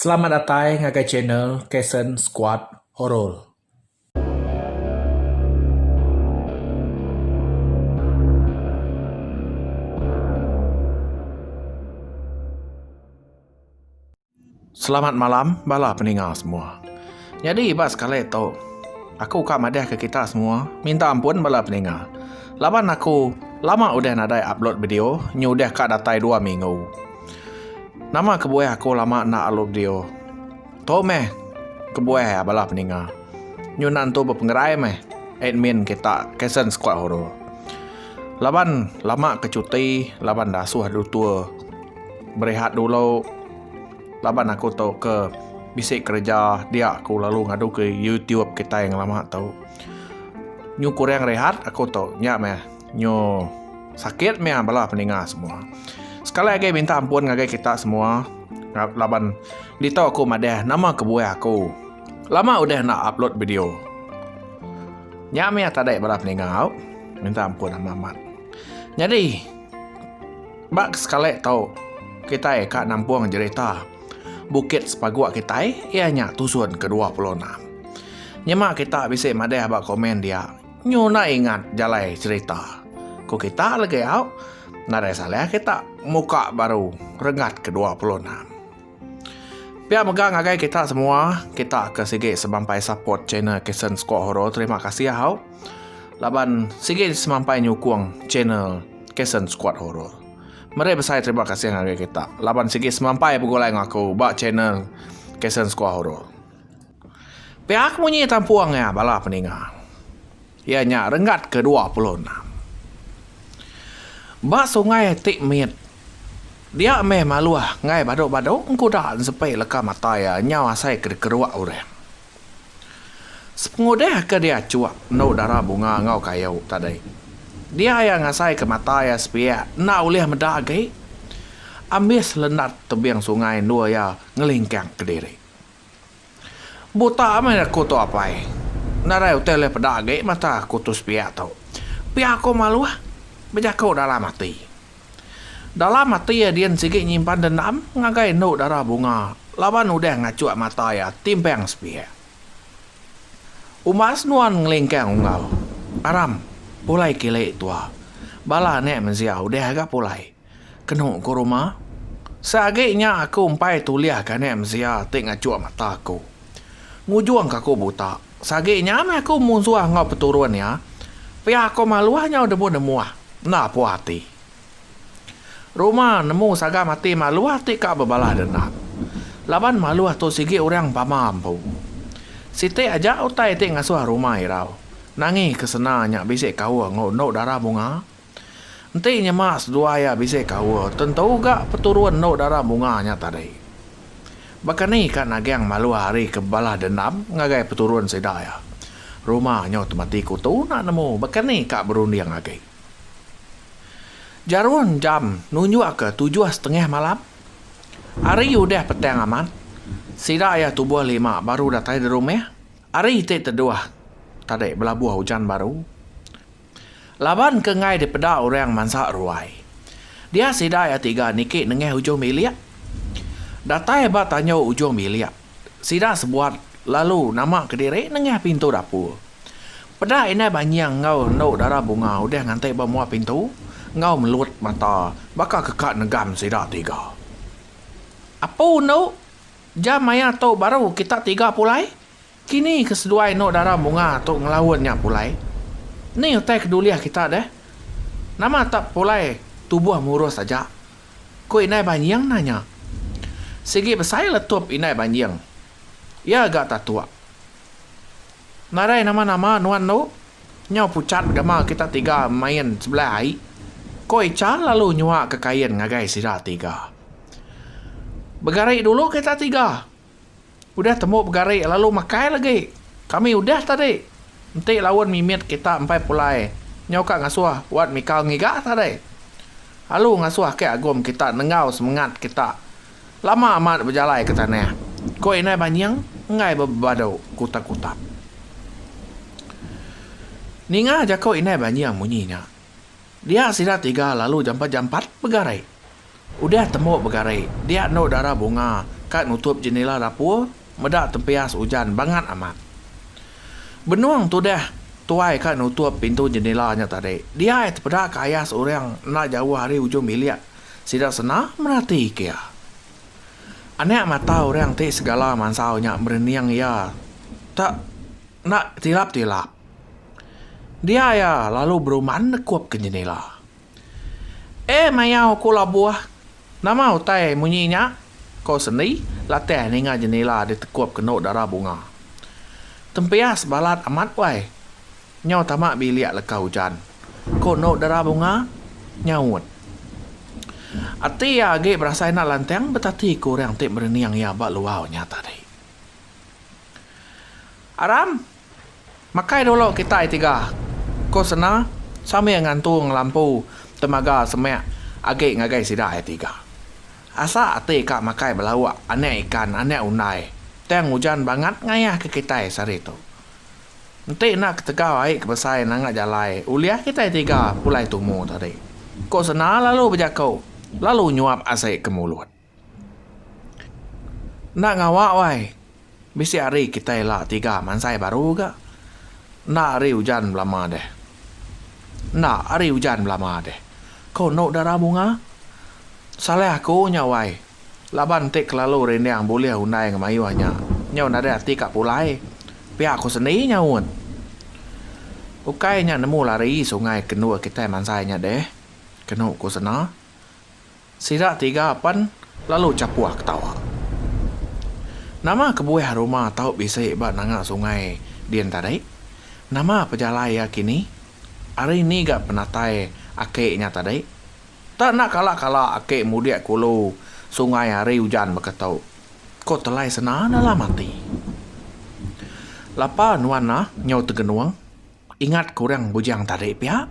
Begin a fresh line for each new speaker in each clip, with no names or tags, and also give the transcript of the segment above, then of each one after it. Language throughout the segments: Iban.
Selamat datai ngagai channel Kasen Squad Horor. Selamat malam bala peninga semua. Nyadi ba sekali tu aku ka madah ke kita semua minta ampun bala peninga laban aku lama udah nadai upload video nyu udah ka datai dua minggu. Nama kebuah aku lama enda alu video. Tu meh kebuah iya bala peninga. Nyunan tu bepengerai meh admin kita Kaisen Skuad Horor. Laban lama ke cuti laban dasuh adu tour berehat dulu laban aku tu ke bisi kereja dia aku lalu ngadu ke youtube kitai lama tu. Nyu kurang rehat aku tu nya meh. Nyo sakit meh bala peninga semua. Sekali agi minta ampun ngagai kita semua laban ditu aku madah nama kebuah aku. Lama udah enda upload video. Nya meh tadi bala peninga au minta ampun amat-amat. Nyadi ba sekali tu kitai ka nampung jerita Bukit Sepagok kitai iya nya tusun ke dua puluh enam. Nyema kita bisi madah ba komen dia. Nyu enda ingat jalai cerita. Ku kita legi au, nadai salah kita muka baru Renggat ke dua puluh enam. Pia mega ngagai kita semua, kita ke sigi semampai support channel Kasen Squad Horror terima kasih au laban sigi semampai nyukung channel Kasen Squad Horror. Meri besai terima kasih ngagai kita laban sigi semampai begulai ngaku ba channel Kasen Squad Horror. Piak munyi tampung iya bala peninga iya nya renggat ke dua puluh enam. Ba sungai ti mit dia meh maluh enggai badu-badu engkuda ensepi leka mata iya nyau asai ke dikeruk urang. Sepengudah ke dia chuk endu dara bunga enggau kayu tadi dia iya ngasai ke mata iya sepiak enda ulih meda agi ambis lendat tebing sungai endur iya ngelingkang kediri. Butak meh aku tu apai. Nadai utai ulih peda agi mata aku tu sepiak tu. Pia aku maluh bejaku dalam ati. Dalam ati Adin sigi nyimpan dendam ngagai endu dara bunga laban udah ngachuk mata iya timpang sepiak. Umbas nuan ngelingkang unggau. Aram, pulai kili tua. Bala anak mensia udah ga pulai. Kenu ku Ruma. Sa agi nya aku empai tulih ka anak mensia ti ngachuk mata aku. Ngujung ka aku buta. Sa agi nya meh aku munsuh enggau peturun iya. Pia aku maluh nyau demu nemuh. Enda puah ati. Ruma nemu sagam ati maluh ti ka bebalah dendam. Laban maluh tu sigi orang pama empu. Siti aja utai ti ngasuh Ruma irau. Nangi ke sena nya bisi kauh enggau endu dara bunga. Enti nyema seduai iya bisi kaul, tentu ga peturun endu dara bunga nya tadi. Baka ni ka Nagang Maluh Hari ke bebalas dendam ngagai peturun sida iya? Rumah nyu temati kutu enda nemu baka ni ka berunding agi. Jarum jam nunjukka tujuh setengah malam. Hari udah petang amat, sida iya tubuh lima baru datai di rumah. Hari ti teduh tadi belabuh ujan baru. Laban ke enggai dipeda orang mansa ruai, dia sida iya tiga niki nengah ujung bilik. Datai ba tanjau ujung bilik, sida sebuat lalu nama kediri nengah pintu dapur. Peda indai banying enggau endu dara bunga udah nganti ba mua pintu enggau melut mata baka keka negam sida tiga. Apu endu, jam maya tu baru kita tiga pulai, Kini ke seduai endo dara munga tu ngelaun nya pulai, ni utai ke dulih kita deh? Nama tak pulai tubuh murus aja? ku Indai Banjing nanya. Sigi besai letup Indai Banjing. Iya ga tatuk. Nadai nama-nama nuan tu, nyau pucat gamal kita tiga main sebelah ai, ku Icha lalu nyuaka kain ngagai sida tiga. Begari dulu kita tiga, Udah tembu begari lalu makai lagi. Kami udah tadi. Enti laun mimit kita empai pulai nyau ka ngasuh wat mikal ngiga tadi. Alu ngasuh ke agum kita nenggau semengat kita lama amat bejalai ke tanah, ko indai banying enggai bebebadu kutak-kutak. Ninga jako indai banying munyi nya. Dia sida tiga lalu jampat-jampat begari. Udah tembu begari, dia endo dara bunga ka nutup jendela dapur meda tempias ujan bangat amat. Benung tudah tuai ka nutup pintu jendela nya tadi, dia ai tepeda ke ayas orang enda jauh ari ujung bilik sida sena merati kia. Anak mata orang ti segala mansau nya merening iya te enda tilap-tilap. Dia iya lalu beruman nekup ke jendela. Eh mayau ku labuh. Nama utai munyi nya? ko Sendi latih ninga jenila ditekup kenu dara bunga. Tempias balat amat wai. Nyau tama bilik leka ujan, ko enu dara bunga nyaut. Ati iya agi berasai enda lantang betati ku orang ti merening iya ba luar nya tadi. Aram, Makai dulu kitai tiga, ku Sena sambil ngantung lampu temaga semak agi ngagai sida iya tiga. Asa ati ka makai belauk anak ikan anak undai tang ujan bangat ngayahka kitai sehari tu. Enti enda ketegal ai ke besai nanga jalai ulih kitai tiga pulai tumu tadi, ku Sena lalu bejaku lalu nyuap asi ke mulut. Enda ngawa wai. Bisi hari kitai ila tiga mansai baru ga. Enda hari ujan belama deh. Enda hari ujan belama deh. Ko enu dara bunga. Salah aku nya wai. Laban ti kelalu rinding bulih undai ngan mayuh nya. Nyau nadai ati ka pulai. Pia ku seni nyaut. Ukai nya nemu lari sungai ke endur kitai mansai nya deh. Kenu ku sena. Sida tiga pen lalu chapuh ketawa. Nama kebuah ruma tau bisi ba nanga sungai din tadi? Nama pejalai iya kini? Ari ni ga penatai aki nya tadi? Tak enda kala-kala aki mudik ke ulu sungai ari ujan baka tu. Ko Telai Sena dalam ati. Lapa nuan nah nyau tegenung? Ingat ke orang bujang tadi pia?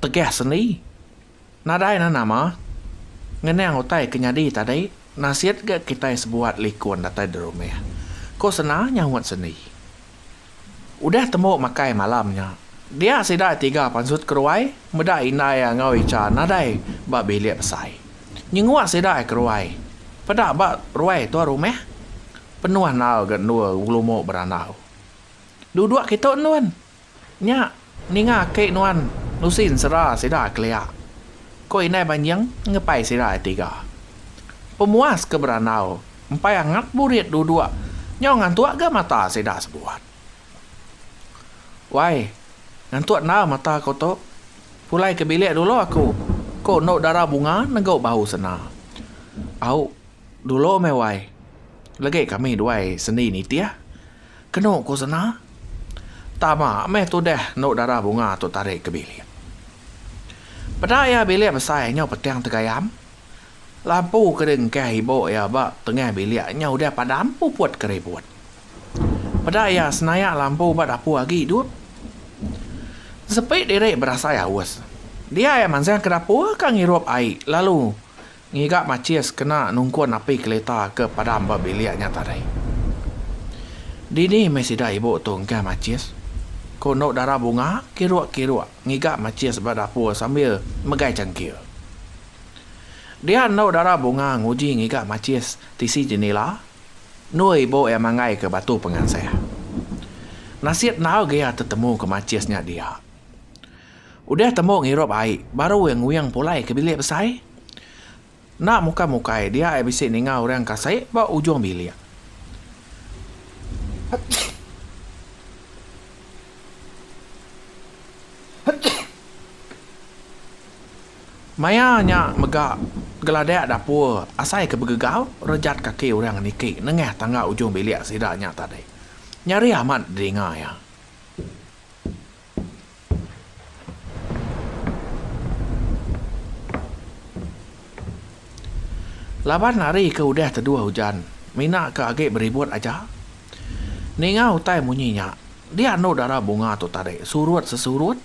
Tegah sendi? Nadai nan nama. Ngenang utai ke nyadi tadi nasit ga kitai sebuat likun datai derumah, ku Sena nyaut sendi. Udah tembu makai malam nya, dia sida tiga pansut keruai meda indai iya enggau Icha nadai ba bilik besai. Nyenguk sida keruai peda ba ruai tua rumah, penuh enal ga endur ngelumu berandau. Duduk kitu endun. Nya ninga ke nuan nusi ensera sida kelia, ko indai banjing ngepai sida ai tiga. Pemuas ke berandau empai angat burit duduk nyau ngantuk ga mata sida sebuat. Wai, ngantuk enda mata ko tu, pulai ke bilik dulu aku, ko endu dara bunga negu bau sena. Au dulu meh wai, legi kami duai sendi nitih. Kenu ku sena. Tama meh tudah endu dara bunga tu tarik ke bilik. Peda iya bilik besai nyau petang tegayam. Lampu ke diengkah ibu iya ba tengah bilik nyau udah padam puput ke ribut. Peda iya senayak lampu ba dapur agi idup. Sepi diri berasai aus. Dia iya mansang ke dapur ke ngirup ai lalu Ngiga macis kena nungkun api kelita ke padam ba bilik nya tadi. Dini meh sida ibu tu engkah macis? Ku Endau Dara Bunga kiruk-kiruk ngiga macis ba dapur sambil megai cangkir. Dia Endau Dara Bunga nguji ngiga macis tisi jenila, endor ibu iya manggaika batu pengansah. Nasit endaug iya tetemuka macis nya dia. Udah tembu ngirup ai, baru iya nguyang pulai ke bilik besai. Enda mukai-mukai dia ai bisi ninga orang ke asai ba ujung bilik. Maya nya mega geladak dapur asai ke begegau rejat kaki orang niki nengah tangga ujung bilik sida nya tadi. Nyeri amat didinga iya. Laban hari ke udah teduh ujan, mina ke agi beribut aja. Ninga utai munyi nya, dia anu dara bunga tu tadi surut sesurut.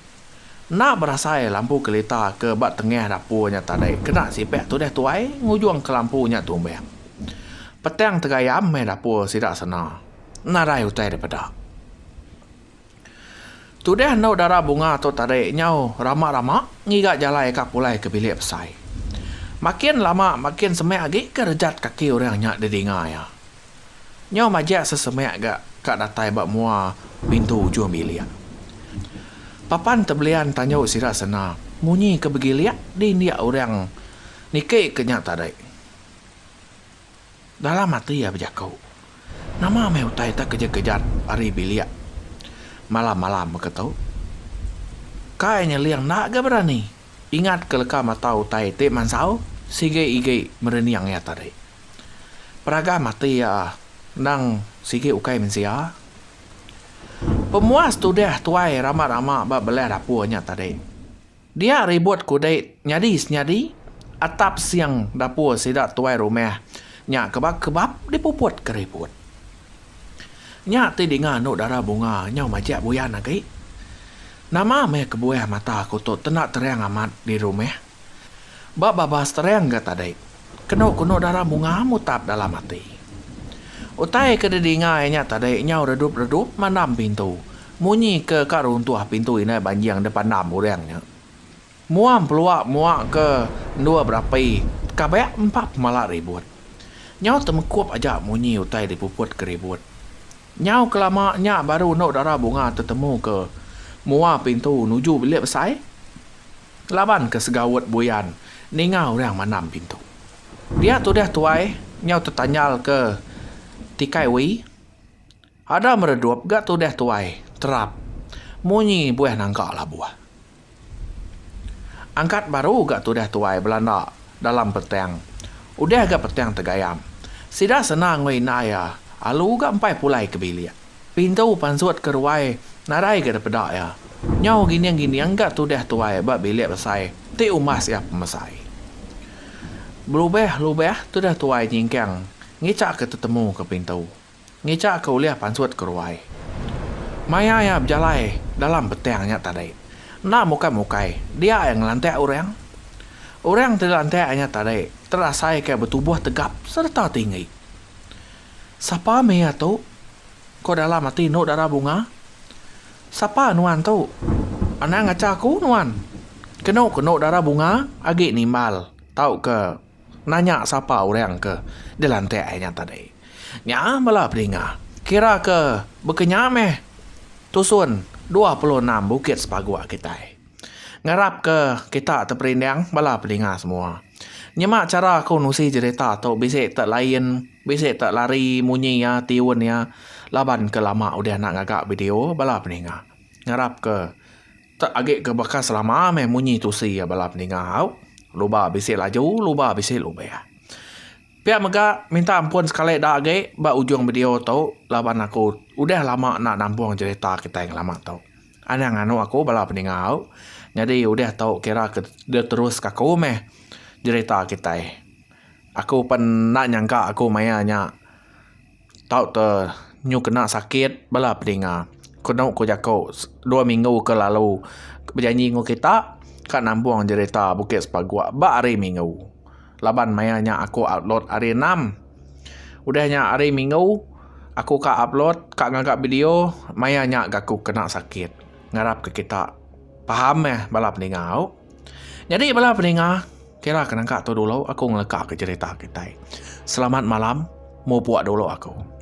Enda berasai lampu kelita ke ba tengah dapur nya tadi kena sipak tudah tuai ngujung ke lampu nya tumbang. Petang tegayam meh dapur sida sena. Nadai utai dipeda. Tudah endo dara bunga tu tadi nyau rama-rama ngiga jalai ka pulai ke bilik besai. Makin lama makin semek agi ke rejat kaki orang nya didinga iya. Nyau majak sesemek ga ka datai ba mua pintu ujung bilik. Papan tebelian tanjau sida sena munyi ke begilik di indik orang niki ke nya tadi. Dalam ati iya bejaku, Nama meh utai tak kejat-kejat ari bilik malam-malam baka tu? Kai nyeling enda ga berani ingat ke leka mata utai ti mansau sigi-igi merening iya tadi. Peragam ati iya endang sigi ukai mensia. Pemuas tudah tuai rama-rama ba belah dapur nya tadi. Dia ribut kudit nyadi senyadi atap sing dapur sida tuai rumah nya kebab kebab dipuput ke ribut. Nya ti dinga anu dara bunga nyau majak buyan agi. Nama meh kebuah mata aku tu tenda terang amat di rumah. Ba babas terang ga tadi. Kenu kunu dara munga mutap dalam ati. Utai ke didinga iya nya tadi nyau redup redup mandam pintu. Munyi ke ka runtuh pintu indai banjing deh pandam urang nya. Muam pelua mua ke endua berapi kabek empa pemala ribut. Nyau temekup aja munyi utai dipuput ke ribut. Nyau kelama nya baru endo dara Bunga tetemu ke mua pintu nuju bilik besai. Laban ke segaut buyan ninga orang mandam pintu. Pia tudah tuai nyau tetanyal ke tikai Wee. Ada meredup ga tudah tuai terap munyi buah nangka labuh. Angkat baru ga tudah tuai belanda dalam petang. Udah ga petang tegayam. Sida senang engoi indai iya alu ga empai pulai ke bilik. Pintu pansut ke ruai nadai ga depeda iya. Nyau gining-gining ga tudah tuai ba bilik besai ti umbas iya pemesai. Belubah-lubah tudah tuai nyingkang ngichaka tetemu ke pintu. Ngicak ke ulih pansut ke ruai. Maya iya bejalai dalam petang nya tadi, enda muka mukai dia iya ngelantak orang. Orang ti dilantak nya tadi terasaika betubuh tegap sereta tinggi. Sapa meh iya tu? ko dalam ati Endok Dara Bunga. Sapa nuan tu? Anang acha aku nuan, ke Endok Dara Bunga agi nimbal tauka. Nanya sapa orang ke dilantik ai nya tadi. Nya bala pedinga kira ke baka nya meh tusun dua puluh enam bukit sepaguk kitai. Ngarap ke kita ti perindang bala pedinga semua nyema chara aku nusi cherita tu bisi te lain bisi te lari munyi iya tiun iya laban ke lama udah enda ngaga video bala pedinga. Ngarap ke. Tek agi ke baka selama meh munyi tusi iya bala peninga au. Luba bisi laju luba bisi lubeh. Pia mega minta ampun sekali da agi ba ujung video tu laban aku udah lama enda nampung cherita kitai ngelama tu. Anang anu aku bala peninga au nyadi udah tu kira ke diterus ka ku meh cherita kitai. Aku pen enda nyangka aku maya nya. Tau te nyu kena sakit bala pedinga. Kenu ku jaku dua minggu ke lalu bejanji enggau kita ka nambung jerita Bukit Sepagok ba hari minggu. Laban maya nya aku upload hari enam. Udah nya hari minggu aku ka upload ka ngaga video maya nya ga aku kena sakit. Ngarap ke kita paham meh bala pedinga au. Nyadi bala peninga kira ke nangka tu dulu aku ngeleka ke cerita kitai. Selamat malam mupuk dulu aku.